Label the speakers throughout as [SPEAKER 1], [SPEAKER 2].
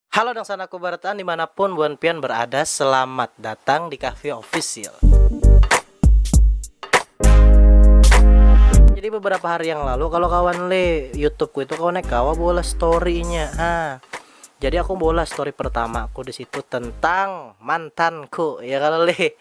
[SPEAKER 1] Halo dangsanaku barataan dimanapun buan pian berada selamat datang di kahvia official. Jadi beberapa hari yang lalu kalau kawan le YouTubeku itu kawan kawa bola storynya ha. Jadi aku bola story pertama aku di situ tentang mantanku ya kalau le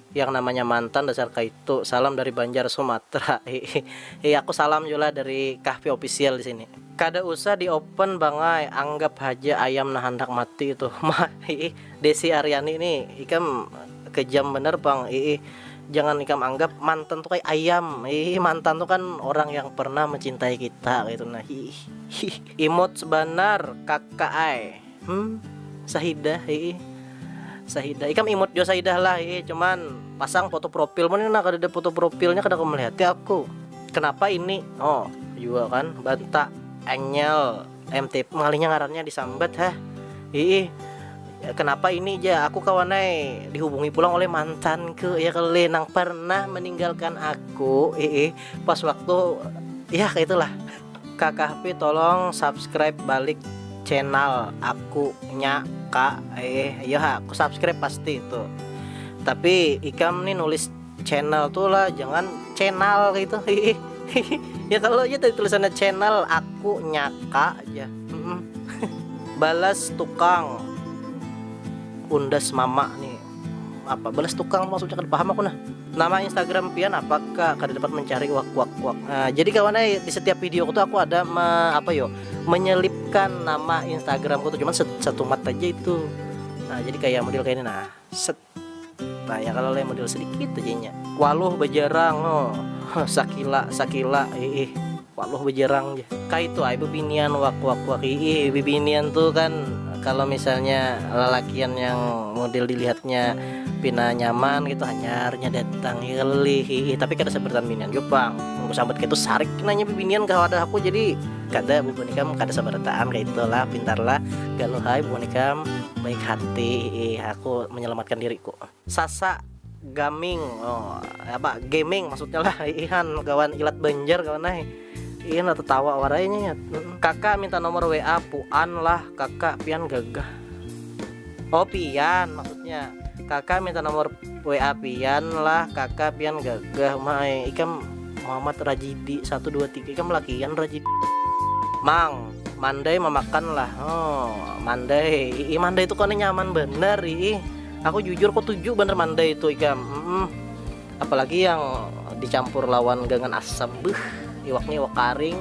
[SPEAKER 1] Yang namanya mantan dasar kaitu. Salam dari Banjar Sumatra. Hihihi aku salam jua lah dari Kahfi Official di sini. Kada usah di open bang ai, anggap haja ayam nah handak mati itu. Mah iih, Desi Aryani ni ikam kejam banar pang iih, jangan ikam anggap mantan tu kaya ayam iih, mantan tu kan orang yang pernah mencintai kita kaitu nah iih, hiih. Imut banar kaka ai. Hmm sahidah hiih sahidah ikam imut jua sahidah lah hiih cuman pasang foto profil mana nah kadada foto profilnya kada kawa melihati aku kenapa ini oh jua kan banta anyel MTP ngalihnya ngarannya disambat hah hiih kenapa ini ja aku kawan ai dihubungi pulang oleh mantanku ya kalo leh nang pernah meninggalkan aku hiih pas waktu yah kaya itu lah. Kakahpi tolong subscribe balik channel aku nya kak eh iya ha aku subscribe pasti itu tapi ikam nih nulis channel tuh lah jangan channel gitu ya kalau aja tadi tulisannya channel aku nya kak ya balas tukang undas mama nih apa balas tukang maksudnya kada paham aku nah nama Instagram pian apa kak kada dapat mencari wak wak wak nah, jadi kawan eh di setiap video aku tuh aku ada me, apa yo menyelipkan nama Instagram aku tuh cuman satu mat aja itu nah jadi kayak model kayak ini nah set nah ya kalau lain model sedikit aja nya waluh bajarang oh sakila sakila ih Waluh bajarang ja. Kaitu ai bibinian wak wak wak iih bibinian tu kan kalo misalnya lalakian yang model dilihatnya pina nyaman ngitu hanyarnya datang iih kalo lih iih tapi kada sabarataan binian jua pang mun kusambat kaitu sarik nanya bibinian ka wadah aku jadi kada bubuhan ikam kada sabarataan kaitu lah pintar lah galuh ai bubuhan ikam baik hati iih aku menyelamatkan diriku. Sasa gaming oh apa gaming maksudnya lah ihan kawan ilat banjar kawan nah iya lah tertawa warainya ya kakak minta nomor WA puan lah kakak pian gagah oh pian maksudnya kakak minta nomor WA pian lah kakak pian gagah mai ikam Muhammad Rajidi 123 ikam lakian Rajidi Mang mandai memakan lah oh mandai ii mandai itu kone nyaman bener ii Aku jujur kutuju banar mandai itu ikam mm apalagi yang dicampur lawan gangan asam beuh iwaknya iwak karing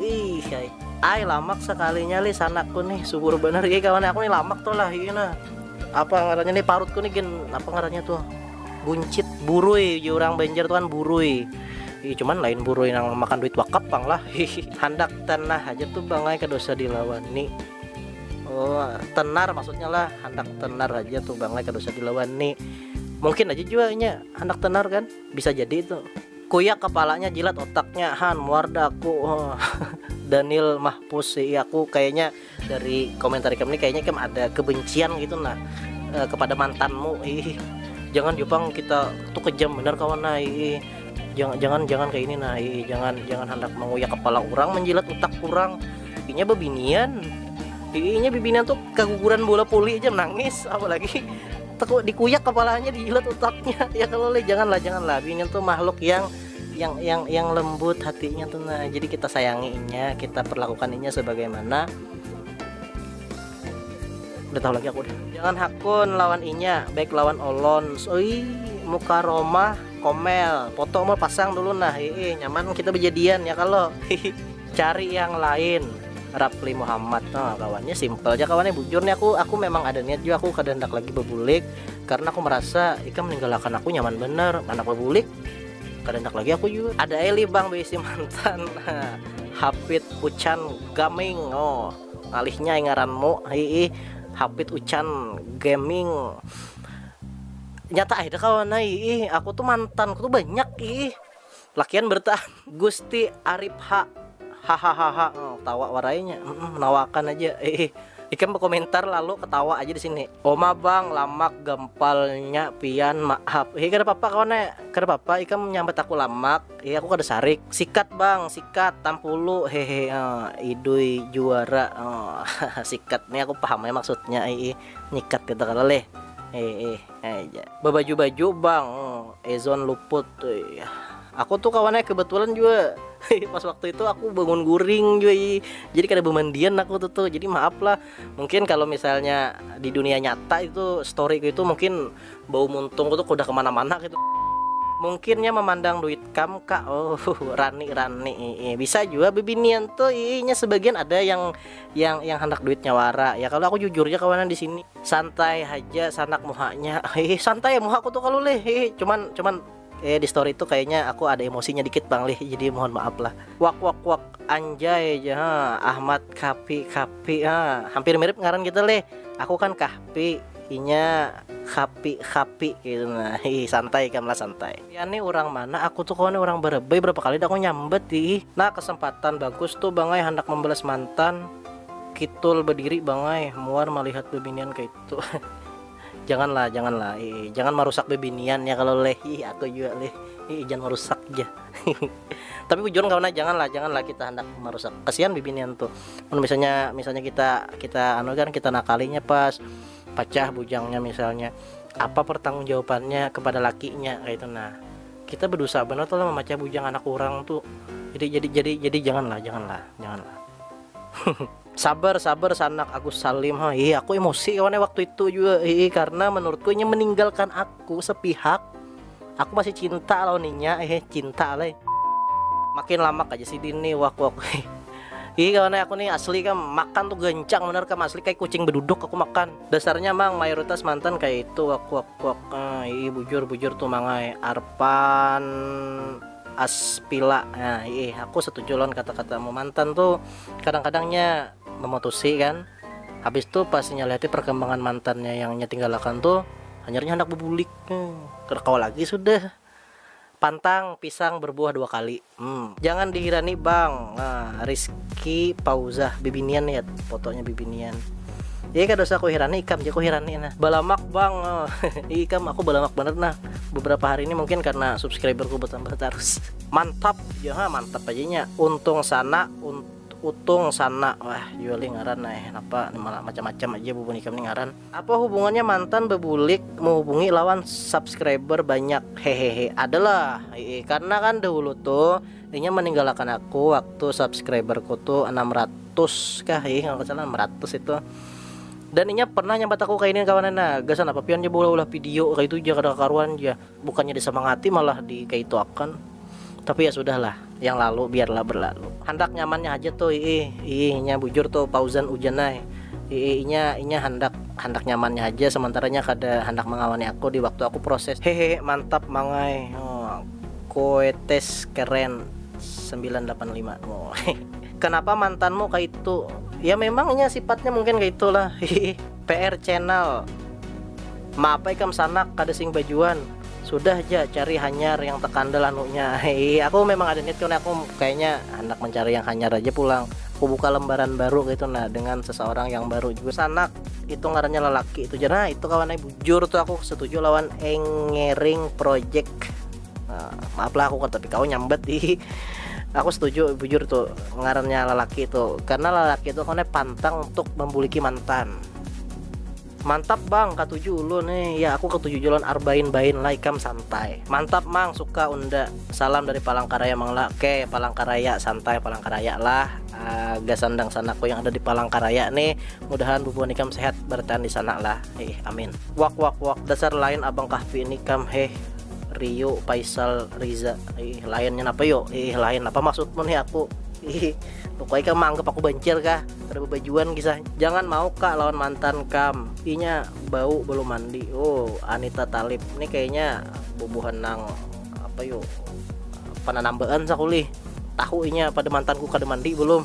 [SPEAKER 1] wih ai. Ai lamak sakalinya lih sanakku nih subur banar iya kawan aku nih lamak tuh lah iya nah apa ngarannya nih parutku nih gen apa ngarannya tuh buncit burui ujar orang Banjar tuh kan burui Ih, cuman lain burui nang makan duit wakaf pang lah handak tanah aja tuh bangai kedosa dilawani Oh, tenar maksudnya lah handak tenar aja tuh bang kada usah dilawan nih mungkin aja juga nya handak tenar kan bisa jadi itu kuyak kepalanya jilat otaknya han muar aku oh. Daniel Mahpus sih iya, aku kayaknya dari komentar kamu ini kayaknya kamu ada kebencian gitu nah eh, kepada mantanmu ih jangan Jepang kita tuh kejam bener kawan nah ih jangan jangan jangan kayak ini nah ih jangan jangan hendak menguyak kepala orang menjilat otak kurang Pipinya bebinian. Pipinya bebinian tuh keguguran bola poli aja nangis apalagi tekuk dikuyak kepalanya dijilat otaknya ya kalau le janganlah janganlah binian tuh makhluk yang yang yang yang lembut hatinya tuh nah jadi kita sayanginya kita perlakukan ini sebagaimana udah tahu lagi aku udah jangan hakun lawan inya baik lawan olon soi muka Roma komel foto mau pasang dulu nah ii nyaman kita berjadian ya kalau cari yang lain Rapli Muhammad nah kawannya simple aja kawannya bujur nih aku aku memang ada niat juga aku kada hendak lagi bebulik karena aku merasa ikam meninggalkan aku nyaman bener anak bebulik kada hendak lagi aku juga ada Eli bang beisi mantan Hapit Ucan Gaming oh alihnya ngaranmu hiih Hapit Ucan Gaming nyata ai dah kawan ih aku tuh mantan aku tuh banyak ih Lakian bertahan. Gusti arip ha hahahaha oh, tawa warainya mm, menawakan aja eh, ikan berkomentar lalu ketawa aja di sini oma bang lamak gempalnya pian maaf eh kada apa-apa kawan eh kada apa-apa ikan menyambat aku lamak eh aku kada sarik sikat bang sikat tampulu hehe oh, idui juara oh, sikat nih aku paham ya maksudnya eh, eh. nyikat gitu kalau leh eh, eh. Babaju baju bang Ezon luput Aku tuh kawan nya kebetulan jua pas waktu itu aku bangun guring jua i jadi kada bemandian aku tuh tuh jadi maaf lah mungkin kalau misalnya di dunia nyata itu story ku itu mungkin bau muntung ku tuh kudah kemana-mana gitu mungkin nya memandang duit kam kak oh rani rani ii bisa jua bebinian tuh ii nya sebagian ada yang yang yang handak duitnya wara ya kalau aku jujur ja kawanan di sini. Santai haja sanak muhanya. Hihi santai muha ku tu kalu lih hihi cuman cuman eh di story tu kayaknya aku ada emosinya dikit pang lih jadi mohon maaf lah. Wakwakkwak anjay ja ha Ahmad Kapi Kapi ha hampir mirip ngaran kita lih aku kan Kahpi inya Khapi Khapi kaitu nah hihi santai ikam lah santai. Pian ni urang mana aku tu kawan ni urang Barebay berapa kali dah aku nyambat hihi. Nah kesempatan bagus tu bangai handak membalas mantan. Kitul badiri bangai muar malihat babinian kaitu janganlah janganlah iih jangan marusak babinian ya kalo leh iih aku jua leh iih jangan marusak jar tapi bujuran kawan ai janganlah janganlah kita handak marusak kasian bibinian tuh mun misalnya misalnya kita kita anu kan kita nakalinya pas pacah bujangnya misalnya apa pertanggung jawabannya kepada lakinya kaitu nah kita badusa banar tuh lah mamacah bujang anak urang tuh jadi jadi jadi jadi janganlah janganlah janganlah. Sabar sabar sanak Agus Salim ha ih aku emosi kawan waktu itu juga ih karena menurutku inya meninggalkan aku sepihak aku masih cinta lawan inya eh cinta alai makin lamak aja si Dini wak wak ih kawan aku nih asli kam makan tuh gancang benar kam asli kayak kucing beduduk aku makan dasarnya mang mayoritas mantan kayak itu wak wak wak ah ih bujur bujur tuh mangai Arpan Aspila, nah iih aku setuju lawan kata-katamu mantan tu kadang-kadang nya memutusi kan habis tu pas inya lihati perkembangan mantannya yang inya tinggalakan tu hanyar nya handak bebulik kada kawa lagi sudah pantang pisang berbuah dua kali hmm. Jangan dihirani bang, nah Rizky Pauzah bibinian yet fotonya bibinian. Iya kada usah kuhirani ikam je kuhirani nah. Balamak bang, oh. iya ikam aku balamak bener nah. Beberapa hari ini mungkin karena subscriberku bertambah terus. Mantap, ya ha, mantap aja nya. Untung sana, un, utung sana. Wah, Yuli ngaran nah, eh, napa malah macam-macam aja bubun ikam nih ngaran. Apa hubungannya mantan bebulik menghubungi lawan subscriber banyak? Hehehe, adalah. Iya, karena kan dahulu tuh Inya maninggalakan aku waktu subscriber ku tu anam ratus kah ih kalau salah anam ratus itu dan inya pernah nyambat aku kayak ini kawanan nah gasan apa pian je ulah-ulah video kayak itu je kada karuan je bukannya disemangati malah di kayak itu akan tapi ya sudahlah yang lalu biarlah berlalu handak nyamannya aja tuh ih ih inya bujur tuh Pauzan Ujanai ih inya inya handak handak nyamannya aja sementaranya kada handak mengawani aku di waktu aku proses hehehe mantap mangai oh. Koetes keren sembilan lapan lima Kenapa mantanmu kaitu Ya memang inya sifatnya mungkin kaitu lah hihi PR channel Maapa ikam sanak kada sing bajuan Sudah ja cari hanyar yang tekandal anunya hihi Aku memang ada niat kawan aku kayaknya handak mencari yang hanyar aja pulang Aku buka lembaran baru kaitu nah dengan seseorang yang baru jua sanak itu ngarannya lelaki itu jana itu kawan eh, bujur tuh aku setuju lawan engering project nah, maaf lah aku tapi kau nyambet di aku setuju bujur tuh ngarannya lelaki itu karena lelaki itu kawan eh, pantang untuk membuliki mantan Mantap bang, ketujuh lu nih. Ya aku ketujuh jalan arbain bain lah ikam santai. Mantap mang, suka unda. Salam dari Palangkaraya mang lah. Oke, Palangkaraya santai Palangkaraya lah. Uh, ah, gasandang sanaku yang ada di Palangkaraya nih. Mudahan bubuhan ikam sehat bertahan di sana lah heeh amin. Wak wak wak dasar lain abang kahfi ini kam heh Rio paisal riza heeh lain nya napa yo heeh lain napa maksud mu nih aku heeh luka ikam maanggap aku bancir kah kada babajuan kisah jangan mau ka lawan mantan kam inya bau belum mandi oh anita talib nih kayaknya bubuhan nang apa yo pananambaan sakulih tahu inya pada mantanku kada mandi belum.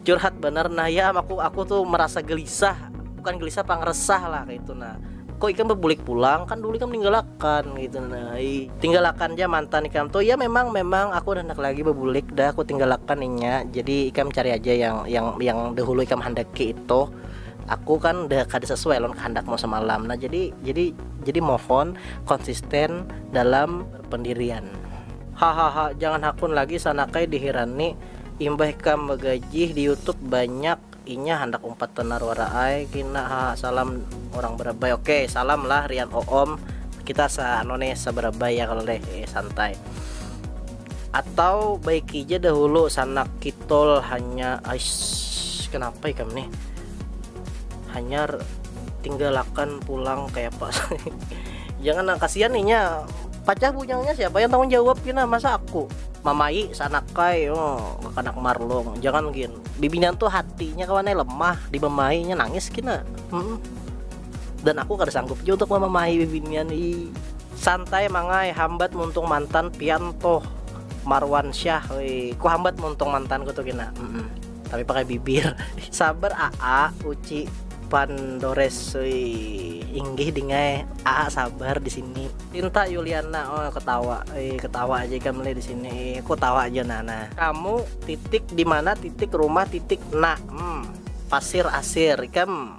[SPEAKER 1] Curhat banar nah ya am aku aku tu merasa gelisah bukan gelisah pang resah lah kayak itu nah kok ikam bebulik pulang kan dulu ikam ninggalakan gitu nah tinggalakan ja mantan ikam tuh ya memang memang aku udah hendak lagi bebulik dah aku tinggalakan inya jadi ikam cari aja yang yang yang dahulu ikam handaki itu aku kan udah kada sesuai lawan kehendakmu semalam nah jadi jadi jadi mohon konsisten dalam pendirian. Hahaha jangan hakun lagi sanakai dihirani imbah ikam bagajih di youtube banyak inya handak umpat banar wara ai kina haha salam urang barabai ok salam lah rian oom kita sa anu nih sa barabai ya kalo leh eh santai atau baiki ja dahulu sanak kitol hanya aiss kenapa ikam nih. hanyar tinggalakan pulang kayak apa jangan nah kasihan nih nya pacah bunyangnya siapa yang tanggung jawab kina masa aku mamai sanak kai oh, kanak marlong jangan gin bibinian tuh hatinya kawan eh, lemah di mamainya nangis kina hmm. dan aku kada sanggup juga untuk mamai bibinian i santai mangai hambat muntung mantan pian toh Marwan Syah woi ku hambat muntung mantanku tuh kina hmm. tapi pakai bibir sabar AA uci pandores inggih dingai AA sabar di sini Tinta Yuliana oh ketawa eh, ketawa aja kan di sini eh, aku tawa aja nana kamu titik di mana titik rumah titik nak hmm, pasir asir ikam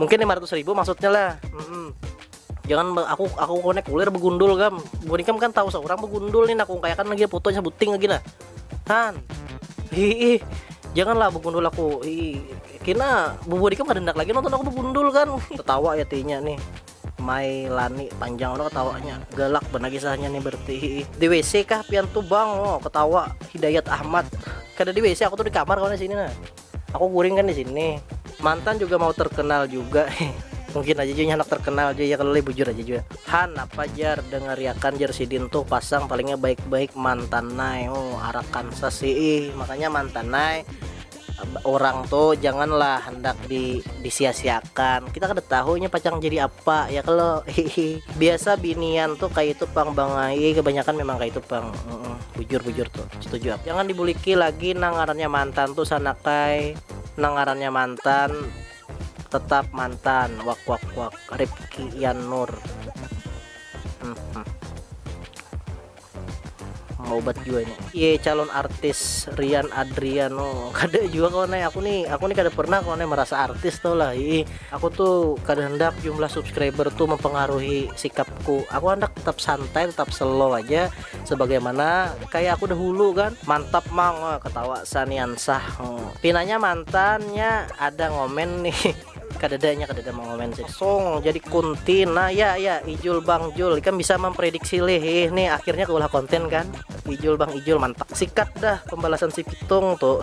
[SPEAKER 1] mungkin lima ratus ribu maksudnya lah hmm. jangan aku aku konek kulir begundul gam bukan ikam kan tahu seorang begundul nih nah, aku kayakan lagi foto aja buting lagi nah han hihi janganlah begundul aku hihi kena bubur ikam kedendak lagi nonton aku begundul kan ketawa ya tinya nih Mai Lani panjang lo ketawanya galak benar kisahnya nih berarti di WC kah pian tuh bang oh ketawa Hidayat Ahmad kada di WC aku tuh di kamar kawan sini nah Aku guring kan di sini. Mantan juga mau terkenal juga. Mungkin aja juga anak terkenal aja ya kalau lagi bujur aja juga. Han apa jar dengeriakan jar sidin tuh pasang palingnya baik-baik mantan nai. Oh, arakan sasii. Makanya mantan nai orang tuh janganlah hendak di disia-siakan kita kada tahunya pacang jadi apa ya kalau biasa binian tuh kayak itu pang bangai kebanyakan memang kayak itu pang bujur-bujur tuh setuju aku jangan dibuliki lagi nang ngarannya mantan tuh sanakai nang ngarannya mantan tetap mantan wak wak wak Ripki Ian Nur hmm, hmm. mau obat juga ini iya calon artis Rian Adriano kada juga kawan eh. aku nih aku nih kada pernah kawan eh, merasa artis tau lah Ih, aku tuh kada hendak jumlah subscriber tuh mempengaruhi sikapku aku hendak tetap santai tetap slow aja sebagaimana kaya aku dahulu kan mantap mang oh, ketawa sanian sah oh. pinanya mantannya ada ngomen nih kadadanya kadada mengomen sih song jadi kuntin nah ya ya Ijul Bang Jul kan bisa memprediksi lih eh, nih akhirnya keulah konten kan Ijul Bang Ijul mantap sikat dah pembalasan si Pitung tuh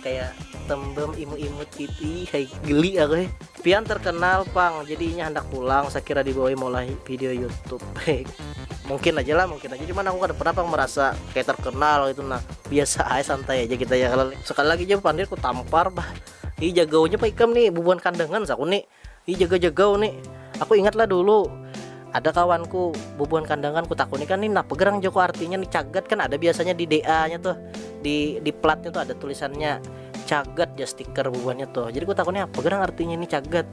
[SPEAKER 1] kayak tembem imut-imut gitu kayak geli aku eh. Pian terkenal pang jadinya hendak pulang saya kira dibawa mulai video YouTube mungkin aja lah mungkin aja cuman aku kada pernah pang merasa kayak terkenal gitu nah biasa aja santai aja kita ya kalau sekali lagi aja pandir ku tampar bah ini jagaunya pak ikam nih bubuhan kandangan saku nih Hi jaga jaga uni, aku ingat lah dulu ada kawan ku bubuhan kandangan ku takuni kan ni napa gerang jaku artinya ni cagat kan ada biasanya di DA nya tuh di di plat nya tuh ada tulisannya cagat jar stiker bubuhan nya tuh jadi ku takuni apa gerang artinya ni cagat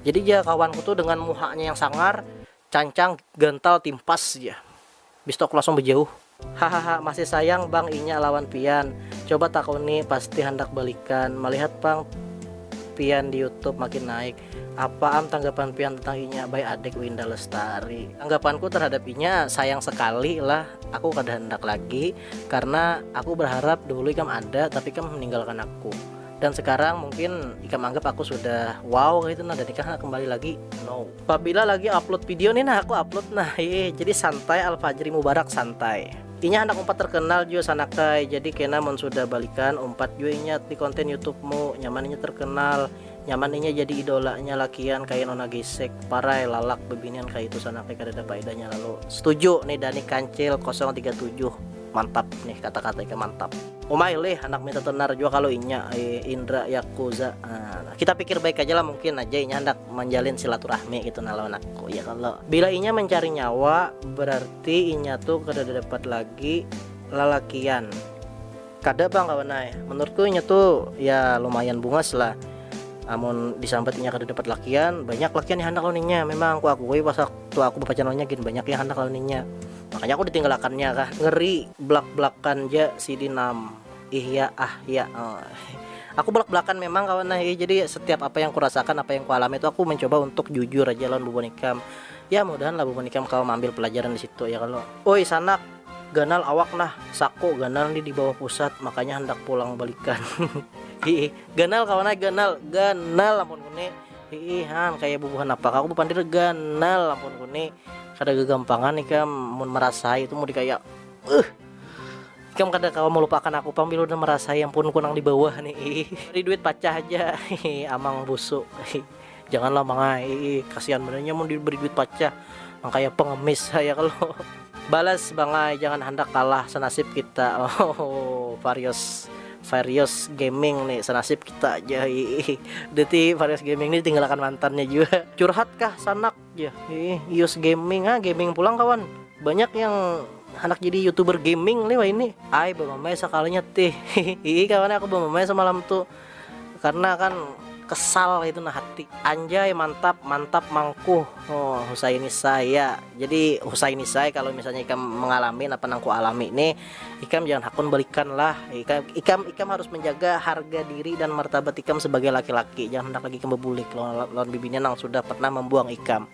[SPEAKER 1] jadi jar kawan ku tuh dengan muha nya yang sangar Cancang gantal timpas ja. Bis tu aku langsung bejauh. Hahaha masih sayang bang inya lawan pian, coba takuni pasti handak balikan, malihat pang pian di youtube makin naik, apa am tanggapan pian tentang inya by adek winda lestari. Tanggapanku terhadap inya sayang sekali lah aku kada handak lagi karena aku berharap dahulu ikam ada tapi ikam meninggalkan aku dan sekarang mungkin ikam anggap aku sudah wow kaitu nah dan ikam handak kembali lagi no. Pabila lagi upload video nih nah aku upload nah heeh jadi santai alfajri mubarak santai inya handak umpat terkenal jua sanakai jadi kena mun sudah balikan umpat jua inya di konten youtubemu nyaman inya terkenal nyaman inya jadi idolanya lakian kaya nona gesek parai lalak bebinian kaya itu sanakai kadada paedahnya lalu setuju nih dani kancil 037 Mantap nih kata-kata ikam mantap. Umai lih anak minta tenar jua kalu inya ai Indra Yakuza. Nah, kita pikir baik aja lah mungkin aja inya handak manjalin silaturahmi gitu nah lawan aku ya kalo. Bila inya mencari nyawa berarti inya tu kada dapat lagi lalakian. Kada pang kawan ai, menurutku inya tu ya lumayan bungas lah amun disambat inya kada dapat lakian, banyak lakian yang handak lawan inya, memang kuakui pas waktu aku bapacaran lawan inya gin banyak yang handak lawan inya. Makanya aku ditinggalakannya kah ngeri belak belakan ja sidi nam ih ya ah ya aku belak belakan memang kawan nah ya jadi setiap apa yang kurasakan apa yang kualami tu aku mencoba untuk jujur aja lawan bubuhan ikam ya mudahan lah bubuhan ikam kawa maambil pelajaran disitu ya kalo uy sanak ganal awak nah saku ganal ni dibawah pusat makanya handak pulang balikan hiih ganal kawan ai ganal ganal ampun nguni. Hiih han kaya bubuhan apak aku bapandir ganal ampun ku ni kada gagampangan ikam mun marasai tu mudi kaya uh ikam kada kawa malupakan aku pang bila udah marasai ampun ku nang dibawah ni iih bari duit pacah haja hiih amang busu iih jangan lah mangai iih kasian banar inya mun diberi duit pacah nang kaya pengemis ha ya kalo balas bangai jangan handak kalah sanasib kita oh varios varios gaming ni sanasib. Kita ja iih. Deti Various Gaming ni ditinggalakan mantannya jua. Curhat kah sanak ya. Iih, Ius Gaming ah, gaming pulang kawan. Banyak yang anak jadi youtuber gaming lih wah ini ai bamamai sakalinya tih hihi kawan aku bamamai semalam tuh karena kan kesal itu nah hati anjay mantap mantap mangkuh oh Husaini saya jadi Husaini saya kalau misalnya ikan mengalami apa nangku alami nih Ikam jangan hakun balikan lah. Ikam, ikam, ikam harus menjaga harga diri dan martabat ikam sebagai laki-laki. Jangan hendak lagi ikam bebulik lawan, lawan bibinya nang sudah pernah membuang ikam.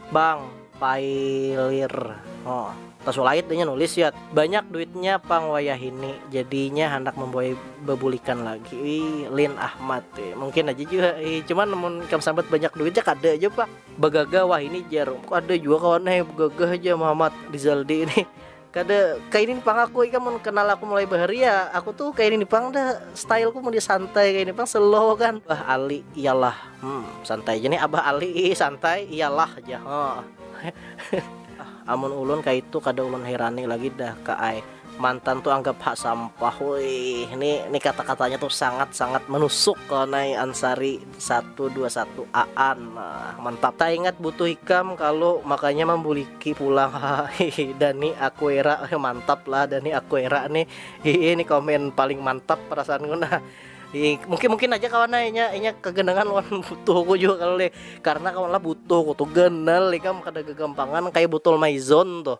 [SPEAKER 1] Bang, pailir. Oh, tasulait inya nulis yat. Banyak duitnya pang wayahini, jadinya handak membuai bebulikan lagi. Ih, Lin Ahmad. Ih, mungkin aja jua. Ih, cuman mun ikam sambat banyak duitnya kada aja pak. Bagagah wahini jar. Kada jua kawan eh, bagagah aja Muhammad Rizaldi ini. Kada kaini pang aku ikam mun kenal aku mulai bahari ya aku tuh kaini pang dah style ku mun di santai kaini pang slow kan abah ali iyalah hmm santai ja nih abah ali ih santai iyalah ja huh amun ulun kaitu kada ulun hirani lagi dah ka ai mantan tuh anggap ha sampah wih ni ni kata katanya tuh sangat sangat menusuk kawan ai ansari. Satu dua satu aan nah mantap. Taingat butuh ikam kalu makanya mambuliki pulang hahaha dani akuera mantap lah dani akuera ni hihi ni komen paling mantap perasaan ku nah hihi mungkin mungkin haja kawan ai inya inya kaganangan lawan butuh ku jua kalu lih karna kawan lah butuh ku tu ganal ikam kada gagampangan kaya botol maison tuh.